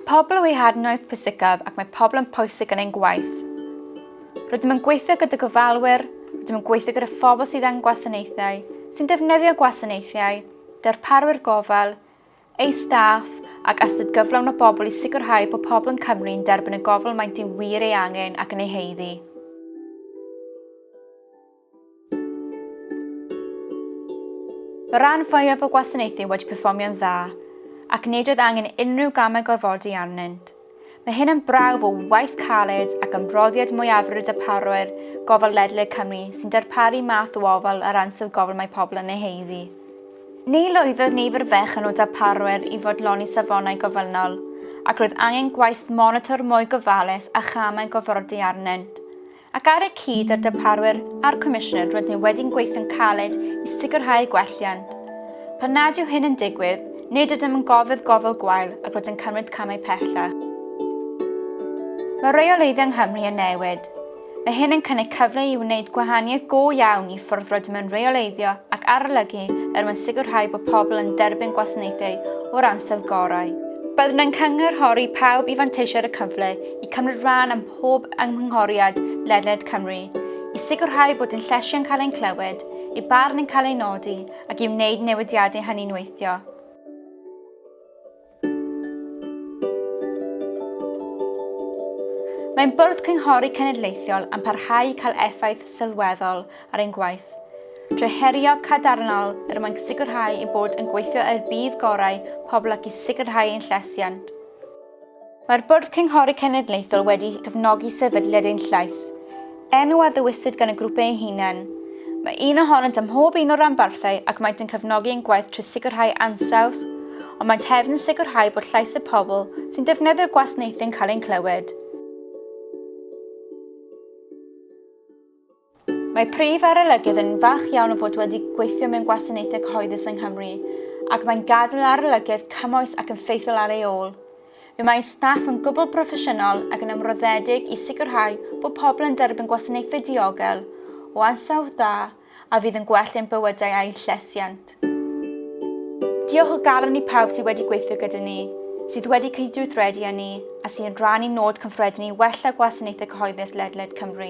Pobl yw ei hadnoedd pwysicaf ac mae pobl yn pwysig yn ein gwaith. Rydym yn gweithio gyda gofalwyr, rydym yn gweithio gyda phobl sydd angen gwasanaethau, sy'n defnyddio gwasanaethau, darparwyr gofal, eu staff ac ystod gyflawn o bobl i sicrhau bod pobl yn Cymru yn derbyn y gofal maent yn wir ei angen ac yn ei heiddi. Mae rhan fwyaf o gwasanaethu wedi perfformio'n dda, ac nid oedd angen unrhyw gamau gorfodi arnynt. Mae hyn yn brawf o waith caled ac ymroddiad mwyafrif y darparwyr gofal ledled Cymru sy'n darparu math o ofal ar ansawdd gofal mae pobl yn ei haeddu. Ni lwyddodd nifer fechan o darparwyr i fodloni safonau gofynnol, ac roedd angen gwaith monitr mwy gofalus a chamau gorfodi arnynt. Ac ar y cyd â'r darparwyr a'r Comisiynwyr rydyn ni wedi'n gweithio'n caled i sicrhau gwelliant. Pan nad yw hyn yn digwydd, nid ydym yn gofydd gofal gwael ac rydym cymryd camau pellach. Mae rheoleiddio yng Nghymru yn newid. Mae hyn yn cynnig cyfle i wneud gwahaniaeth go iawn i ffwrdd rydym yn rheoleiddio ac arolygu er mwyn sicrhau bod pobl yn derbyn gwasanaethau o'r ansawdd gorau. Byddwn yn cynghorhori pawb i fanteisio ar y cyfle i cymryd rhan ym pob ymgynghoriad ledled Cymru i sicrhau bod ein lleisiau'n cael ein clywed, eu barn yn cael ei nodi ac i wneud newidiadau hynny'n weithio. Mae'n bwrdd cynghori cenedlaethol am parhau i cael effaith sylweddol ar ein gwaith, drwy herio cadarnhaol er mwyn sicrhau ein bod yn gweithio er budd gorau pobl ac i sicrhau ein llesiant. Mae'r Bwrdd Cynghori Cenedlaethol wedi cefnogi sefydliad ein llais, enw a ddewisid gan y grŵp eu hunain. Mae un ohonynt ym mhob un o'r ranbarthau ac maent yn cefnogi ein gwaith trwy sicrhau ansawdd, ond maent hefyd yn sicrhau bod llais y pobl sy'n defnyddio'r gwasnaethau'n cael ein clywed. Mae prif arolygydd yn falch iawn o fod wedi gweithio mewn gwasanaethau cyhoeddus yng Nghymru ac mae'n gadael arolygydd cymoes ac yn ffeithiol ar ei ôl. Fe mae staff yn gwbl broffesiynol ac yn ymroddedig i sicrhau bod pobl yn derbyn gwasanaethau diogel, o ansawdd da a fydd yn gwell ein bywydau a'u llesiant. Diolch o galon i pawb sydd wedi gweithio gyda ni, sydd wedi cydweithredu â ni a sy'n rhan i nod cyffredin ni wella gwasanaethau cyhoeddus ledled Cymru.